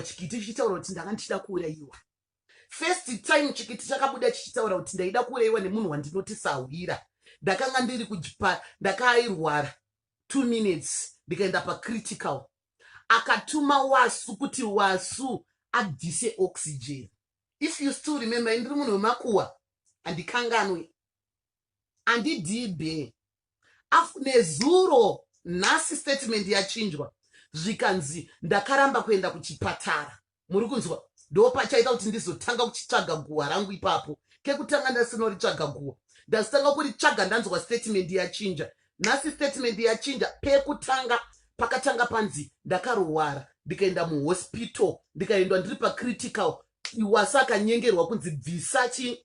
chikiti chichitaura kuti ndanga ndichida kuurayiwa first time chikiti chakabuda chichitaura kuti ndaida kuurayiwa nemunhu wandinoti sahwira ndakanga ndiri kujipa ndakairwara two minutes ndikaenda pacritical akatuma wasu kuti wasu abvise oxygen if you still remember indiri munhu wemakuwa handikanganwe andidii be af nezuro nhasi statement yachinjwa zvikanzi ndakaramba kuenda kuchipatara muri kunzwa ndopachaita kuti ndizotanga kuchitsvaga guhwa rangu ipapo kekutanga ndasinoritsvaga guhwa ndazitanga kuritsvaga ndanzwa statement yachinja nhasi statement yachinja pekutanga pakatanga panzi ndakarwara ndikaenda muhospital ndikaendwa ndiri pacritical iwasa akanyengerwa kunzi bvisa chi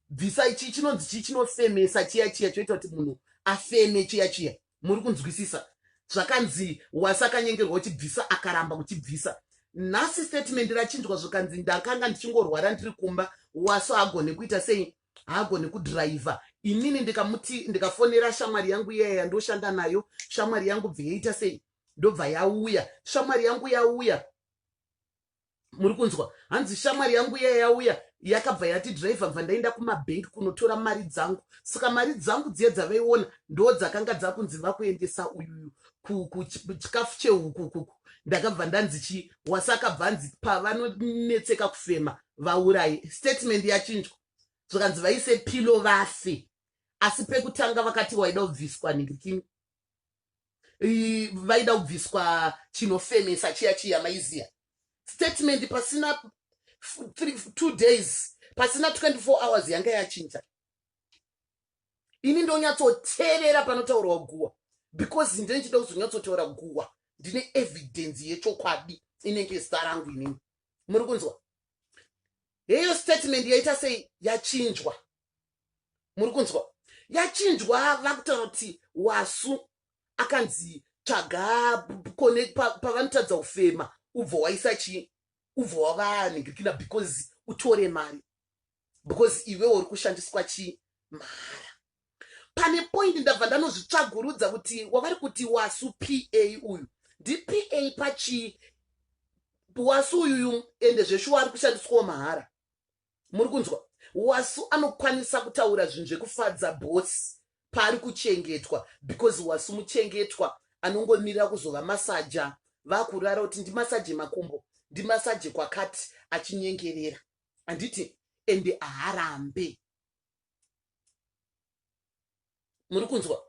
bvisa ichi chinonzi chii chinofemesa chiya chiya choita kuti munhu afeme chiya chiya muri kunzwisisa zvakanzi wasi akanyengerwa uchibvisa akaramba kuchibvisa nhasi statement rachinjwa zvikanzi ndakanga ndichingorwara ndiri kumba waso haagone kuita sei haagone kudhiraivha inini ndikamuti ndikafonera shamwari yangu iyaya yandoshanda nayo shamwari yangu bveyaita sei ndobva yauya shamwari yangu yauya muri kunzwa hanzi shamwari yangu iya yauya yakabva yati driver bva ndaenda kumabhengi kunotora mari dzangu saka mari dzangu dziye dzavaiona ndo dzakanga dzakunzi vakuendesa uyuyu kuchikafu chehukukuku ndakabva ndanzi chii wasi akabva anzi pavanonetseka kufema vaurayi statement yachinjwa zvakanzi vaise pilo vafe asi pekutanga vakati waida kubviswa nhingikingi vaida kubviswa chinofemesa chiya chiya maiziya statement pasina two days pasina 24 hours yanga yachinja ini ndonyatsoteerera panotaurwa guwa because ndine chida kuzonyatsotaura guwa ndine evidence yechokwadi inenge zita rangu inini muri kunzwa heyo statement yaita sei yachinjwa muri kunzwa yachinjwa vakutaura kuti wasu akanzi tsvaga kone pavanotadza pa kufema ubvo waisa chii ubvo wavanhingirikina because utore mari because iwe uri kushandiswa chii mahara pane point ndabva ndanozvitsvagurudza kuti wavari kuti wasu pa uyu ndipa pachii wasu uyuyu ende zveshuwa ari kushandiswawo mahara muri kunzwa wasu anokwanisa kutaura zvinhu zvekufadza bosi paari kuchengetwa because wasu muchengetwa anongomirira kuzova masaja vakurara kuti ndimasaje makumbo ndimasaje kwakati achinyengerera handiti ende haarambe muri kunzwa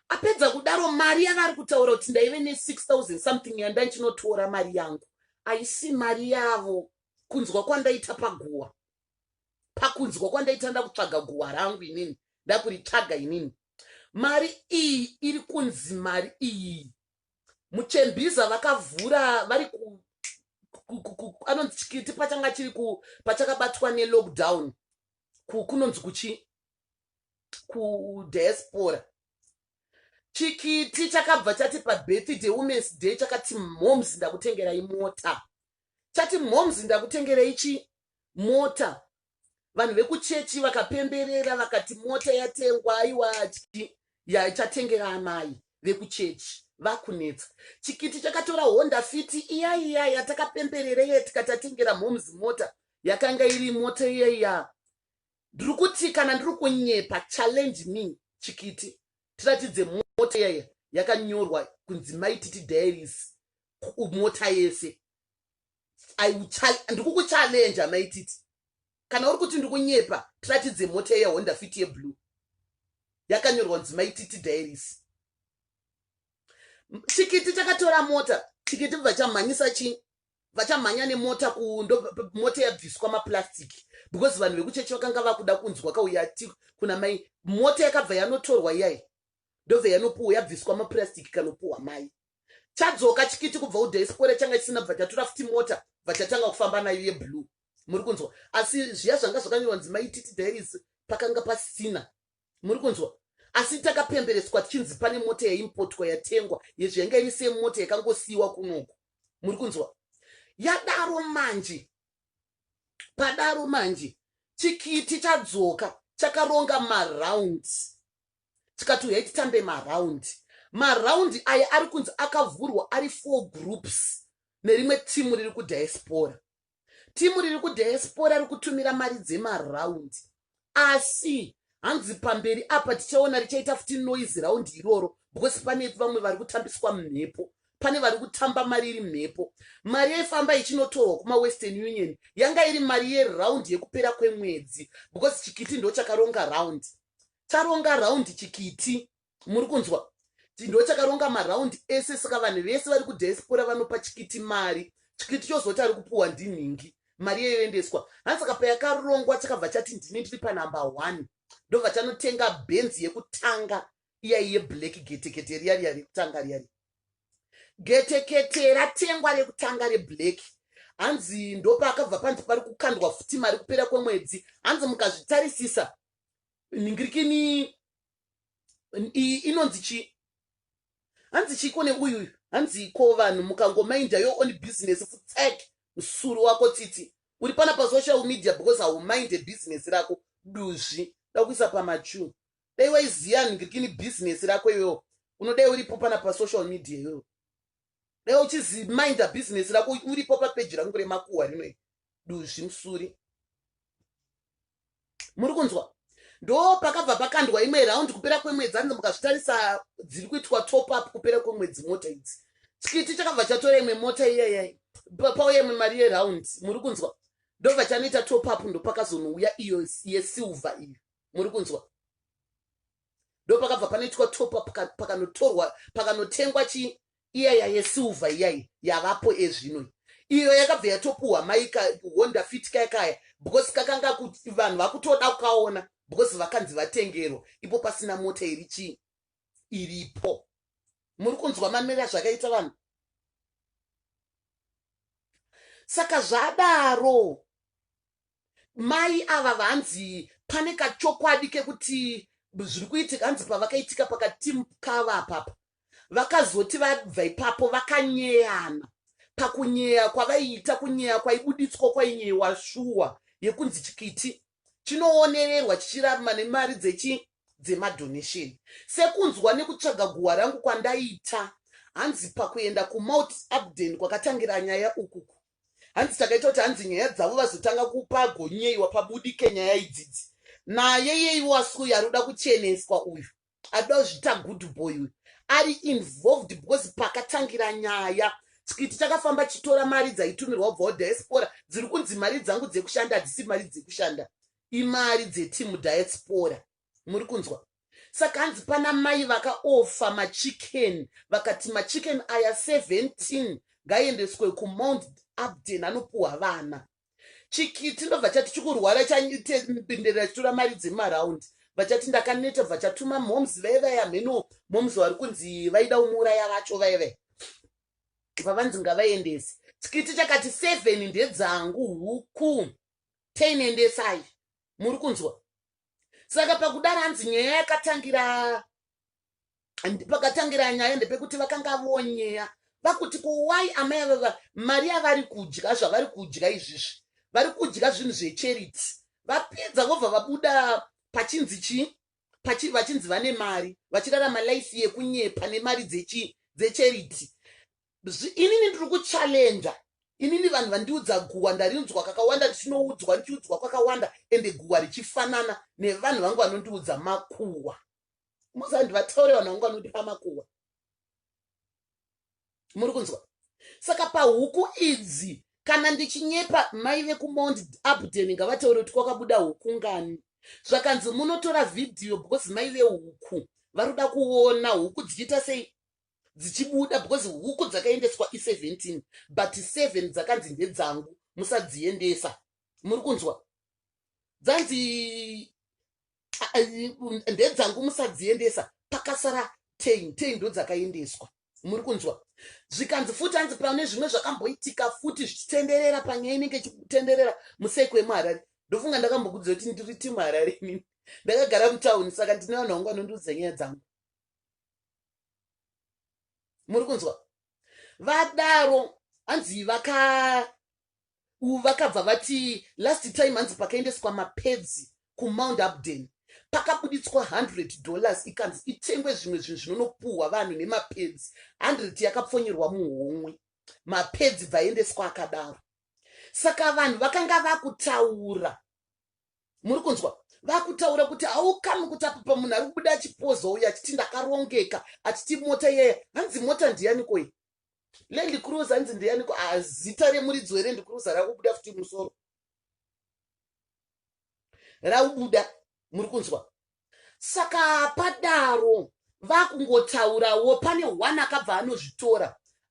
apedza kudaro mari yavari kutaura kuti ndaive ne6000 something yandanchinotwora mari yangu aisi mari yavo kunzwa kwandaita paguwa pakunzwa kwandaita ndakutsvaga guwa rangu inini ndakuritsvaga inini mari iyi iri kunzi mari iyi muchembiza vakavhura vari anonzi chikiti pachanga chiri pachakabatwa nelockdown kunonzi kuchi kudiaspora chikiti chakabva chati pabirthday womens day chakati moms ndakutengerai mota chati moms ndakutengerai chi mota vanhu vekuchechi vakapemberera vakati mota yatengwa aiwa yachatengera amai vekuchechi vakunetsa chikiti chakatora honda fiti iya iya yatakapemberera iye tikatatengera moms mota yakanga iri mota iya iya ndiri kuti kana ndiri kunyepa challenge me chikiti tiratidze mota yaya yakanyorwa kunzi mai titi diaries mota yese ndikukuchallenja mai titi kana uri kuti ndikunyepa tiratidze mota iya honda fit yeblue yakanyorwa kunzi mai titi diaries chikiti chakatora mota chikiti bva chamhanyisa chii vachamhanya nemota kundo mota yabviswa maplastic because vanhu vekuchechi vakanga vakuda kunzwa kauya ti kuna mai mota yakabva yanotorwa iyai ndobva yanopuwa yabviswa maplastic kanopuwa mai chadzoka chikiti kubva udhaispore changa chisina bva chatora futi mota vachatanga kufamba nayo yeblue muri kunzwa asi zviya zvanga zvakanyorwa nzimaititi dairis pakanga pasina muri kunzwa asi takapembereswa tichinzi pane mota yaimpotwa yatengwa yezvo yanga iri semota yakangosiyiwa kunoku muri kunzwa yadaro manje padaro manje chikiti chadzoka chakaronga maround tikati uyai titambe maround maround aya ari kunzi akavhurwa ari four groups nerimwe timu riri kudiaspora timu riri kudiaspora rikutumira mari dzemaraundi asi hanzi pamberi apa tichaona richaita futi noise raundi iroro because pane vamwe vari kutambiswa mhepo pane vari kutamba mari iri mhepo mari yaifamba ichinotorwa kumawestern union yanga iri mari yeraundi yekupera kwemwedzi because chikiti ndo chakaronga raundi charonga raundi chikiti muri kunzwa ti ndochakaronga maraundi ese saka vanhu vese vari kudiaspora vanopa chikiti mari chikiti chozoti ari kupuwa ndinhingi mari yeyoendeswa hanzi saka payakarongwa chakabva chati ndini ndiri panumber one ndobva chanotenga benzi yekutanga iyayi yeblack getekete riya riya rekutanga riya riya getekete ratengwa rekutanga reblack hanzi ndopaakabva panzi pari kukandwa futi mari kupera kwemwedzi hanzi mukazvitarisisa nhingirikini iyi inonzi chii hanzi chiko neuyu uyu hanzi ko vanhu mukangomainda yo on business futsek msuri wako tsitsi uri pana pasocial media because haumainde business rako duzvi dakuisa pamachu dai waiziva ngirikini business rako iwewo unodai uripo pana pasocial media iwewo dai uchiziminda business rako uripo papeji rangu remakuhwa rino duzvi musuri muri kunzwa ndo pakabva pakandwa imwe round kupera kwemwedzi anzi mukazvitarisa dziri kuitwa top up kupera kwemwedzi mota idzi chikiti chakabva chatora imwe mota iyayai pauya imwe mari yeround muri kunzwa ndobva chanoita top up ndopakazonouya iyo yesilver iyo muri kunzwa ndo pakabva panoitwa topa pakanotorwa pakanotengwa chi iya yayesilver iyai yavapo ezvino iyo yakabva yatopuhwa maika honda fit kaya kaya because kakanga kuti vanhu vakutoda kukaona because vakanzi vatengerwa ipo pasina mota iri chii iripo muri kunzwa mamira zvakaita vanhu saka zvadaro Mai ava vanzi pane kachokwadi kekuti zviri kuitika hanzi pavakaitika pakatimu kava apapa vakazoti vabva ipapo vakanyeyana pakunyeya kwavaiita kunyeya kwaibuditswa kwainyeyiwa shuwa yekunzi chikiti chinoonererwa chichiraruma nemari dzechi dzemadonation sekunzwa nekutsvaga guhwa rangu kwandaita hanzi pakuenda kumount abden kwakatangira nyaya ukuku Hanzi takaita kuti hanzi nyaya dzavo vazotanga kupagonyeiwa pabudike nyaya idzidzi. Naye yeiwo asi uyu ari kuda kucheneswa uyu. Adoda kuzvita good boy uyu. Ari involved because pakatangira nyaya chikiti chakafamba chitora mari dzaitumirwa kubva kudiaspora dziri kunzi mari dzangu dzekushanda hadzisi mari dzekushanda imari dzetimu diaspora muri kunzwa saka hanzi pana mai vakaofa machicken vakati machicken aya 17 ngaiendeswe kumount abden anopuhwa vana chikiti ndobva chati chikurwara chapindira chitora mari dzemaraundi vachati ndakaneta vachatuma moms vaye vaye hameno moms vari kunzi vaida umuuraya vacho vaye vaye pavanzi ngavaendesi chikiti chakati seven ndedzangu huku teinendesai muri kunzwa saka pakudaro hanzi nyaya yakatangira pakatangira nyaya ndepekuti vakanga vonyeya vakuti kuwai amai avava mari yavari kudya zvavari kudya izvizvi vari kudya zvinhu zvecharity vapedza vobva vabuda pachinzi chii pachi vachinzi vane mari vachirarama life yekunyepa nemari dzechi dzecharity Bzy inini ndiri kuchallenger inini vanhu vandiudza guhwa ndarinzwa kakawanda ndichinoudzwa ndichiudzwa kwakawanda ende guhwa richifanana nevanhu vangu vanondiudza makuhwa muzandi vataure vanhu vangu vanondipa makuhwa muri kunzwa saka pahuku idzi kana ndichinyepa mai vekumount abden ngavataure kuti kwakabuda huku ngani zvakanzi munotora vhidhiyo because mai vehuku vari kuda kuona huku dzichiita sei dzichibuda because huku dzakaendeswa i17 but 7 dzakanzi ndedzangu musadziendesa muri kunzwa dzanzi ndedzangu musadziendesa pakasara 10 10 ndo dzakaendeswa muri kunzwa zvikanzi futi anzi pane zvimwe zvakamboitika futi zvichitenderera panyaya inenge ichitenderera museko yemuharare ndofunga ndakambokudzira kuti ndiri timu harare inini ndakagara mutauni saka ndine vanhu vangu vanondiudza nyaya dzangu muri kunzwa vadaro hanzi vaka vakabva vati last time hanzi pakaendeswa mapedzi kumount upden pakabuditswa 100 dollars ikanzi itengwe zvimwe zvinhu zvinonopuhwa vanhu nemapedzi 100 yakapfonyerwa muhomwe mapedzi bvaendeswa akadaro saka vanhu vakanga vakutaura muri kunzwa vakutaura kuti haukami kuti apa pamunhu ari kubuda achipoza uyu achiti ndakarongeka achiti mota iyaya hanzi mota ndiyaniko iyi land cruise hanzi ndiyaniko ah, zita remuridzi weland cruise rakubuda futi musoro raubuda muri kunzwa Saka padaro vakungotaurawo pane one akabva anozvitora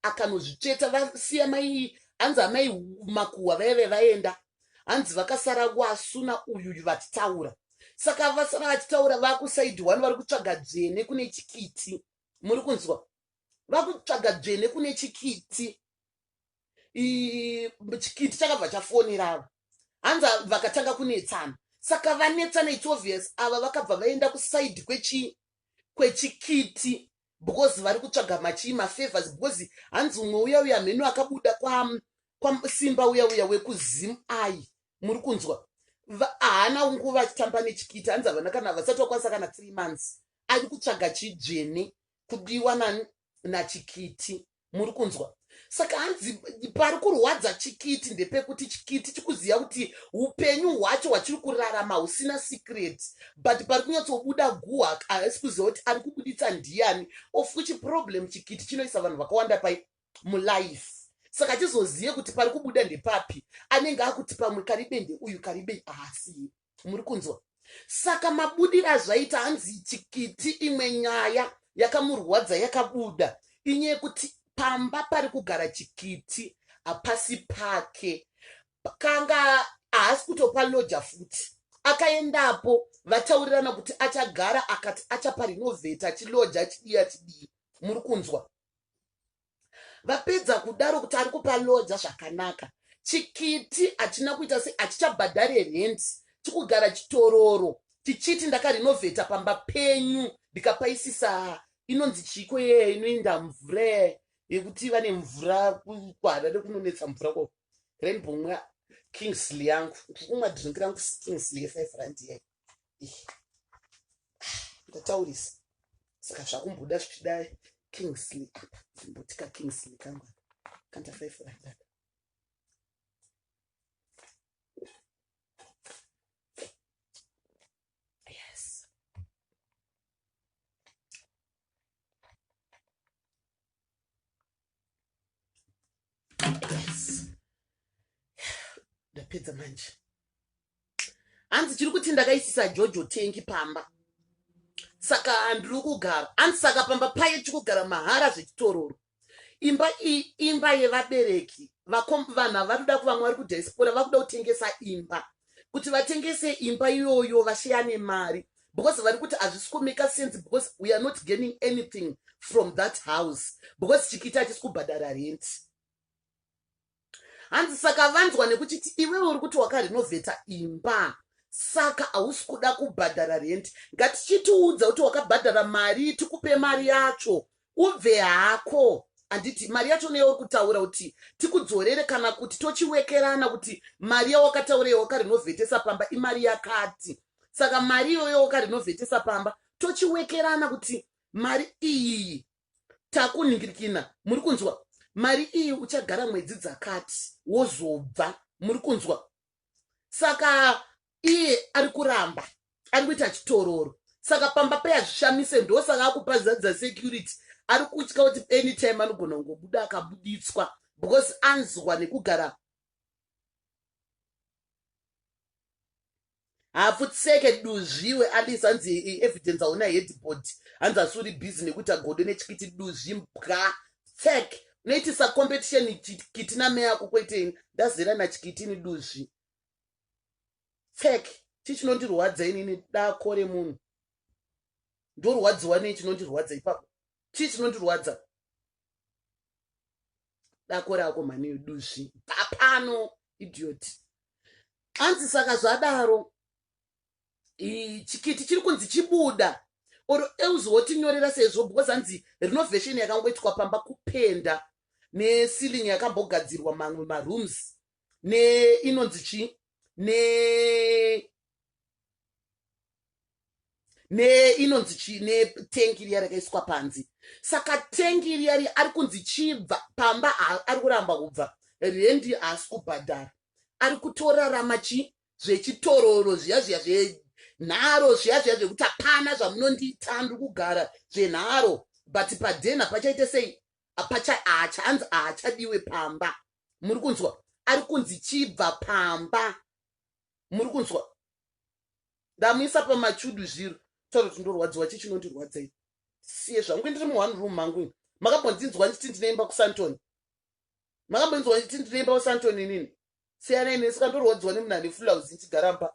akanozvitsveta vasiya mai hanzi amai makuhwa vaive vaenda hanzi vakasara wasuna uyuyu vachitaura saka vasara vachitaura vakusaidi one vari kutsvaga dzvene kune chikiti muri kunzwa vakutsvaga dzvene kune chikiti chikiti chakabva chafonera ava hanzi vakatanga kunetsana saka vanetsana its obvious ava vakabva vaenda kusaidi kwechi kwechikiti because vari kutsvaga machii mafavors because hanzi umwe uya uya mhenu akabuda kwasimba uya uya wekuzim ai muri kunzwa haana nguva achitamba nechikiti hanzi havana kana vasati vakwanisa kana three months ari kutsvaga chidzvene kudiwa nani nachikiti muri kunzwa saka hanzi pari kurwadza chikiti ndepekuti chikiti chikuziva kuti upenyu hwacho hwachiri kurarama husina secret but pari kunyatsobuda guha haasi kuziva kuti ari kubuditsa ndiyani of which problem chikiti chinoisa vanhu vakawanda pai mulife saka chizozive kuti pari kubuda ndepapi anenge akuti pamwe karibende uyu karibei haasiye ah, muri kunzwa saka mabudiro azvaita hanzi chikiti imwe nyaya yakamurwadza yakabuda inye yekuti pamba pari kugara chikiti hapasi pake kanga haasi kutopa loja futi akaendapo vataurirana kuti achagara akati achapa rinovheta chiloja chidii achidii muri kunzwa vapedza kudaro kuti ari kupa lodza zvakanaka chikiti hachina kuita se hachichabhadhare rent chikugara chitororo tichiti ndakarinovheta pamba penyu ndikapaisisa inonzi chiiko yeye inoinda mvura yekuti vane mvura kuharare kunonetsa mvura ko rainbow mwa kingsley yangu ndikumwa drink rangu kingsley yefive rand yeye ndataurisa saka zvakumboda zvichida kingsley apa zimbotika kingsley kangwa kanta five like that yes ndapedza manje hanzi chiri kuti ndakaisisa jojo tengi pamba saka ndiri kugara hanzi saka pamba paye chikugara mahara zvechitororo imba iyi imba yevabereki vakombi vanhu ava vatoda kuva mwari kudiaspora vakuda kutengesa imba kuti vatengese imba iyoyo vasheyane mari because vari kuti hazvisi kumaker sense because we are not gaining anything from that house because chikiti hachisi kubhadhara rent hanzi saka vanzwa nekuchiti iwewe uri kuti wakarinovheta imba saka hausi kuda kubhadhara rent ngatichitiudza kuti wakabhadhara mari tikupe mari yacho Ubve hako handiti mari yacho neyauri kutaura kuti tikudzorere kana kuti tochiwekerana kuti mari yawakataura yawakarinovetesa pamba imari yakati saka mari iyoyo wakarinovetesa pamba tochiwekerana kuti mari iyi takuningirikina muri kunzwa mari iyi uchagara mwedzi dzakati wozobva muri kunzwa saka iye ari kuramba ari kuita chitororo saka pamba pei hazvishamise ndosaka akupa zadza security ari kutya kuti anytime anogona kungobuda akabuditswa because anzwa nekugara hafutseke duzvi iwe alice hanzi eh, eh, evidence hauna headboard hanzi asi uri busy nekuti agodo nechikiti duzvi mbwa tsek unoitisa competition chikiti nameya ako kweteni ndazera nachikitini duzvi tsek chii chinondirwadza inini dako remunhu ndorwadziwa nei chinondirwadza ipapo chii chinondirwadza dako rako mhani yoduzvi papano idiot anzi saka zvadaro chikiti chiri kunzi chibuda or else wotinyorera sezvo because anzi renovation yakangoitwa pamba kupenda neceiling yakambogadzirwa mamwe marooms neinonzi chii ne neinonzi chii netengi riya rakaiswa panzi saka tengi riya riya ari kunzi chibva pamba ari kuramba kubva rendi haasi kubhadhara ari kutorarama chii zvechitororo zviya zviya zvenharo zviya zviya zvekuti hapana zvamunondiita ndiri kugara zvenharo but padenha pachaite sei haachanzi haachadiwe pamba muri kunzwa ari kunzi chibva pamba muri kunzwa ndamuisa pamachudu zviro taura kuti ndorwadziwa chii chinondirwadzei siye zvangu ndiri mu one room mangu ini makambondinzwa ndichiti ndinoimba kusantoni makambondinzwa ndichiti ndinoimba kusantoni inini siyanai neni saka ndorwadziwa nemunhu ane fulauzi ndichigara mba